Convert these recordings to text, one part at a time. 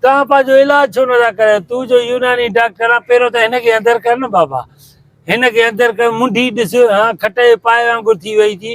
توهان پنهنجو علاج ڇو نه ٿا ڪرايو؟ تون جو يوناني ڊاڪٽر آهين، پهريون ته هن کي اندر ڪر نه بابا. هن کي اندر ڪر، منڍي ڏس، هان کٽ جي پاء وانگر ٿي وئي ٿي.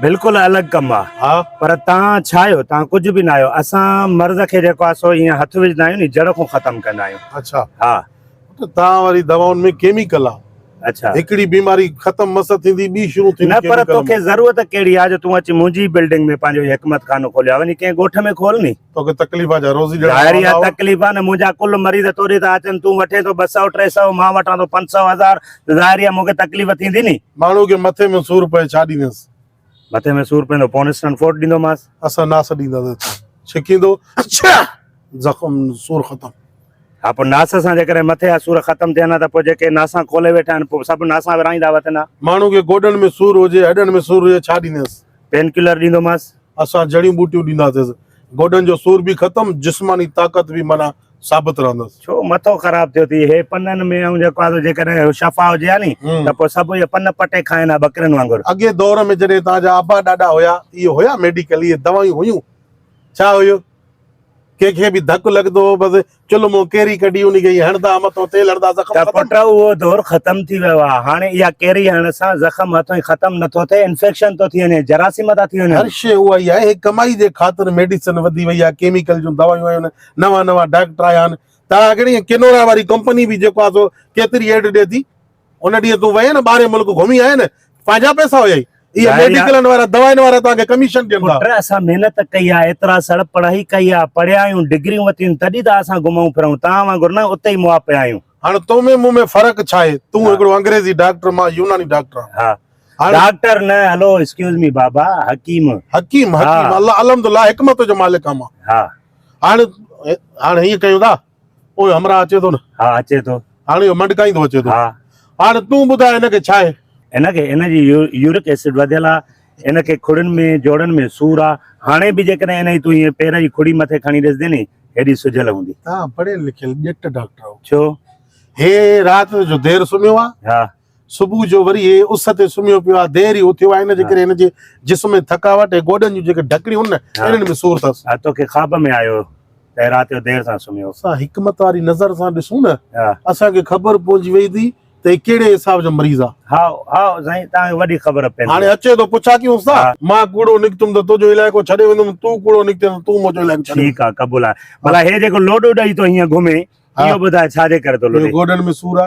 بلڪل الڳ ڪم آ ها پر تان ڇا آهيو تان ڪجھ به ناهيو اسان مرض کي جيڪو آ سو ايئن هٿ وجھدا آهيون ني جڙ کون ختم ڪندا آهيون اڇا ها ته تان واري دوائن ۾ ڪيميڪل آ اڇا هڪڙي بيماري ختم مس ٿيندي ٻي شروع ٿيندي نه پر توکي ضرورت ڪهڙي آ جو تون اچي منهنجي بلڊنگ ۾ پنهنجو هي حڪمت خانو کوليو آ وڃي ڪنهن ڳوٺ ۾ کول ني توکي تڪليف آ جا روزي ڏيڻ ظاهر ئي آ تڪليف آ نه منهنجا ڪل مريض توري ٿا اچن تون وٺين ٿو ٻه سؤ ٽي سؤ مان وٺان ٿو پنج سؤ هزار ته ظاهر ئي آ مونکي تڪليف ٿيندي ني ماڻهو کي مٿي ۾ سور پئي ڇا ڏيندينس مٿي ۾ سور پوندو پونسٽن فوٽ ڏيندومانس اسان ناس ڏينداسين ڇڪيندو اڇا زخم سور ختم. ها پوء ناس سان جيڪڏهن مٿي جا سور ختم ٿين ها ته پوء جيڪي ناسان کولي ويٺا آهن پوء سڀ ناسان ورهائيندا وتن ها. ماڻهو کي گوڏن ۾ سور هجي هڏن ۾ سور هجي ڇا ڏيندينس. Pen colour ڏيندومانس. اسان جڙيون ٻوٽيون ڏينداسيس. گوڏن جو سور به ختم، جسماني طاقت به معنيٰ ثابت رهندس. ڇو مٿو خراب ٿيو ٿئي. هي پنن ۾ آئون جيڪو آندو جيڪڏهن اهو شفا هجي ها ني ته پوء سڀ اهي پن پٽي کائين ها ٻڪرين وانگر. اڳئين دور ۾ جڏهن توهان جا ابا ڏاڏا هيا اهي هيا ميڊيڪل اهي دوائيون هيون ڇا هيو ڪنهن کي به ڌڪ لڳندو هو بس چلهه مون ڪيري ڪڍي انهي کي ئي هڻدا ها مٿو تيل هڻدا زخم ختم. ته پٽ اهو دور ختم ٿي ويو آهي هاڻي اها ڪيري هڻڻ سان زخم هٿون ئي ختم نه ٿو ٿئي انفيڪشن ٿو ٿي وڃي جراثيم ٿا ٿي وڃن. هر شيء اها ئي آهي هي ڪمائي جي خاطر ميڊيسن وڌي وئي آهي ڪيميڪل جون دوائيون آيون آهن نوان نوان ڊاڪٽر آيا آهن ته اها ڪهڙي ڪينورا واري ڪمپني به جيڪو آهي سو ڪيتري ايڊ ڏي ٿي. ان ڏينهن تون وئين نه ٻاهرين ملڪ گهمي آئين نه پنهنجا پئسا هيائي اهي ميڊيڪلن وارا دوائن وارا توهان کي ڪميشن ڏين ٿا. پٽ اسان محنت ڪئي آ ايترا سڙ پڙهائي ڪئي آ پڙهيا آهيون ڊگريون وتيون تڏهن ته اسان گهمون ڦرون توهان وانگر نه اتي ئي مئا پيا آهيون. هاڻ تو ۾ مون ۾ فرق ڇا آهي تون هڪڙو انگريزي ڊاڪٽر مان يوناني ڊاڪٽر آهان. ها ڊاڪٽر نه هلو ايڪسڪيوز مي بابا حڪيم. حڪيم حڪيم الله الحمد الله حڪمت جو مالڪ آهان مان. ها هاڻ هاڻ هيئن ڪيون ٿا. اوء همراهه اچي ٿو نه؟ ها اچي ٿو. هاڻ اهو منڊڪائيندو اچي ٿو. ها. هاڻ تون ٻڌاء هن کي ڇا آهي؟ هن کي هن جي يورڪ ايسڊ وڌيل آ. هن کي کڙين ۾ جوڙن ۾ سور آ. هاڻي به جيڪڏهن هن جي تون هيء پير جي کڙي مٿي کڻي ڏسدين ني هيڏي سجهيل هوندي. آء پڙهيل لکيل ڄٽ ڊاڪٽر آهو. ڇو؟ هي رات جو دير سمهيو آ. ها. صبح جو وري هي اس تي سمهيو پيو آهي، دير ئي اٿيو آهي، ان جي ڪري هن جي جسم ۾ ٿڪاوٽ ۽ گوڏن جون جيڪي ڍڪڻيون هن نه، انهن ۾ سور اٿس. ها، توکي خواب ۾ آيو ته هي رات جو دير سان سمهيو. اسان حڪمت واري نظر سان ڏسون نه، اسان کي خبر پوجي ويندي ته هي ڪهڙي حساب جو مريض آ. هائو، هائو سائين، توهان کي وڏي خبر پيندي. هاڻي اچي ٿو پڇا ڪيونس ٿا. مان ڪوڙو نڪتم ته تنهنجو علائقو ڇڏي ويندم، تون ڪوڙو نڪتين ته تون منهنجو علائقو ڇڏي وڃ. ٺيڪ آ، قبول آ. ڀلا هي جيڪو لوڏو ڏئي ٿو هيئن گهمي، اهو ٻڌاء ڇا جي ڪري ٿو لوڏي؟ گوڏن ۾ سور آ.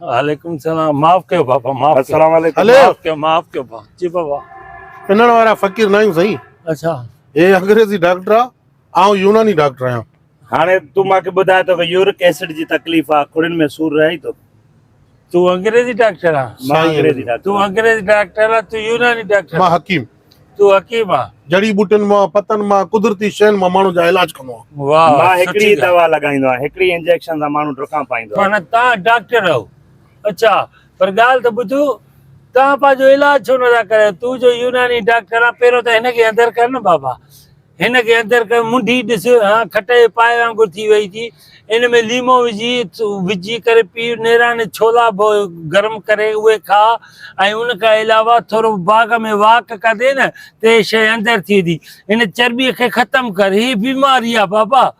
عليڪم السلام معاف ڪيو بابا معاف السلام عليڪم معاف ڪيو معاف ڪيو بابا جي بابا انڙ وارا فقير ناهيون سائين اچھا هي انگريزي ڊاڪٽر آ آئون يوناني ڊاڪٽر آهيان هاڻي تون ماکي ٻڌاء تو کي يورڪ ايسڊ جي تڪليف آ کڙين ۾ سور رهي تو تون انگريزي ڊاڪٽر آ سائين انگريزي ڊاڪٽر تون انگريزي ڊاڪٽر آ تون يوناني ڊاڪٽر مان حڪيم تون حڪيم آن. جڙي ٻوٽين مان، پتن مان، قدرتي شين مان ماڻهو جا علاج ڪندو آن. واهه واهه مان هڪڙي ئي دوا لڳائيندو آهيان هڪڙي ئي انجيڪشن سان ماڻهو ڊکان پائيندو آهي. معنيٰ توهان ڊاڪٽر آهيو اڇا پر ڳالهه ته ٻڌو توهان پنهنجو علاج ڇو نٿا ڪرايو تون جو يوناني ڊاڪٽر آهين پهريون ته هن کي اندر ڪر نه بابا هن کي اندر ڪيو، منڍي ڏس، هان کٽ جي پائي وانگر ٿي وئي ٿي. ان ۾ ليمو وجهي، وجهي ڪري پي. نيراڻي ڇولا به گرم ڪري اهي کاء ۽ ان کان علاوه ٿورو باغ ۾ واڪ ڪندين ته هي شيء اندر ٿي ويندي. هن چرٻيء کي ختم ڪر، هي بيماري آهي بابا.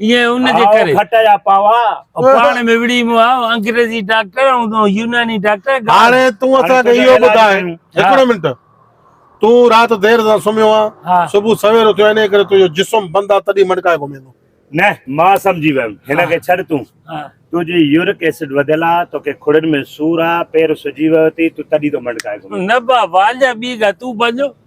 ايئن ان جي ڪري کٽ جا پاوا پاڻ ۾ وڙهي مون آء انگريزي ڊاڪٽر ۽ يوناني ڊاڪٽر هاڻي تون اسان کي اهو ٻڌاء هڪڙو منٽ تون رات دير سان سمهيو آ صبح سوير اٿيو انهي ڪري تنهنجو جسم بند آ تڏهن مڙڪائي گهميندو نه مان سمجهي ويم هن کي ڇڏ تون تنهنجي يورڪ ايسڊ وڌيل آ توکي کڙن ۾ سور آ پير سجي ويو اٿئي تون تڏهن ٿو مڙڪائي گهمين نه بابا اڃا ٻي ڳالهه تون پنهنجو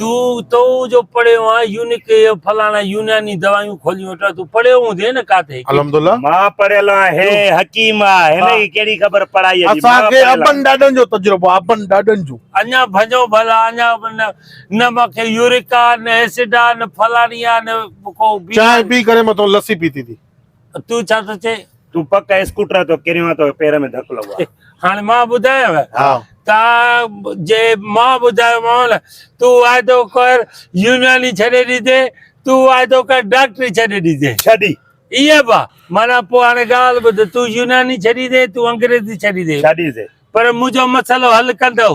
تون تو جو پڙهيو آ يونڪ اي او فلاڻا يوناني دوايون کوليون ويٺو آ تون پڙهيو هوندي نه ڪاٿي ڪي الحمد الله مان پڙهيل آ هي حڪيم آ هن کي ڪهڙي خبر پڙهائي جي اسان مان کي پڙهيل آ. ابن ڏاڏن جو تجربو آ ابن ڏاڏن جو. اڃا ڀڃو ڀلا اڃا نه نه مان کي يورڪ آ نه ايسڊ آ نه فلاڻي آ نه ڪو چانهه بيماري. پي ڪري مٿو لسي پيتي ٿي. تون ڇا ٿو چئين؟ تون پڪ اسڪوٽر تي ڪريو ته پير ۾ ڌڪ لڳو آهي. هاڻي مان ٻڌايانء ته جي مان ٻڌايومانء نه تون واعدو ڪر يوناني ڇڏي ڏيندين، تون واعدو ڪر ڊاڪٽري ڇڏي ڏيندين. ڇڏي. ائين به آهي. معنيٰ پوء هاڻي ڳالهه ٻڌ، تون يوناني ڇڏيندين، تون انگريزي ڇڏيندين. ڇڏيندين. پر منهنجو مسئلو حل ڪندؤ.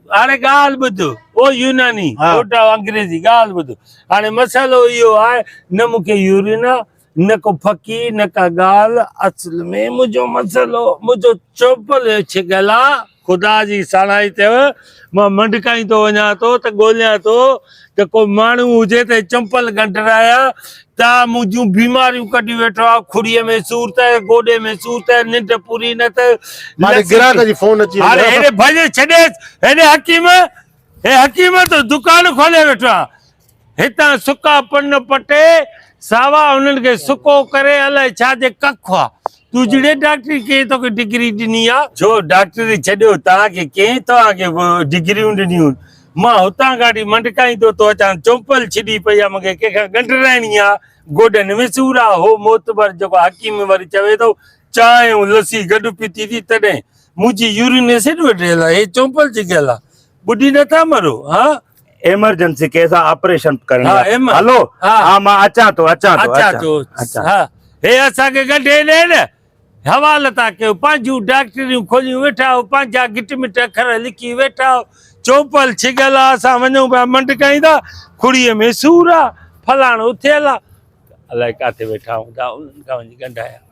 هاڻي ڳالهه ٻڌ او يوناني ڦوٽا انگريزي ڳالهه ٻڌ هاڻي مسئلو اهو آهي نه مون کي يورين آ نه ڪو ڦڪي نه ڪا ڳالهه اصل ۾ منهنجو مسئلو منهنجو چوپل ڇڪيل آ خدا جي ساڻائي چيو مان منڊڪائيندو وڃان ٿو ته ڳوليان ٿو ته ڪو ماڻهو هجي ته چمپل ڳنڍرايا ته منهنجون بيماريون ڪڍي ويٺو آ کڙيء ۾ سور ته گوڏي ۾ سور ته ننڊ پوري نه ته مالڪ گراهڪ جي فون اچي هاڻي هيڏي ڀڄي ڇڏيس هيڏي حڪيم هي حڪيم تو دڪان کولي ويٺو آ هتان سڪا پن پٽي ساوا انهن کي سڪو ڪري الائي ڇا جي ڪک هئا تون جڙي ڊاڪٽري ڪنهن توکي ڊگري ڏني آ. ڇو ڊاڪٽري ڇڏيو توهان کي ڪنهن توهان کي ڊگريون ڏنيون مان هتان ڪاڍي منڊڪائيندو ٿو اچان چمپل ڇڏي پئي آ مونکي ڪنهن کان ڳنڍرائڻي آ گوڏن ۾ سور آ هو معتبر جيڪو حڪيم وري چوي ٿو چانهه ۽ لسي گڏ پيتي ٿي تڏهن منهنجي يورين ايسڊ وٽ رهيل آ هي چمپل جي ڳالهه آ ٻڏي نٿا مرو ها. ايمرجنسي ڪيس آ آپريشن ڪرڻي آ هلو ها مان اچان ٿو اچان ٿو اچان ٿو ها هي اسان کي گنڍي ڏي نه حوال ٿا ڪيو پنهنجون ڊاڪٽريون کوليون ويٺا آهو پنهنجا گٽ مٽ اکر لکي ويٺا آهو چوپل ڇڳل آ اسان وڃون پيا منڊ ڪاين ٿا کڙي ۾ سور آ فلاڻو ٿيل آ الائي ڪاٿي ويٺا هوندا انهن کان وڃي گنڍايا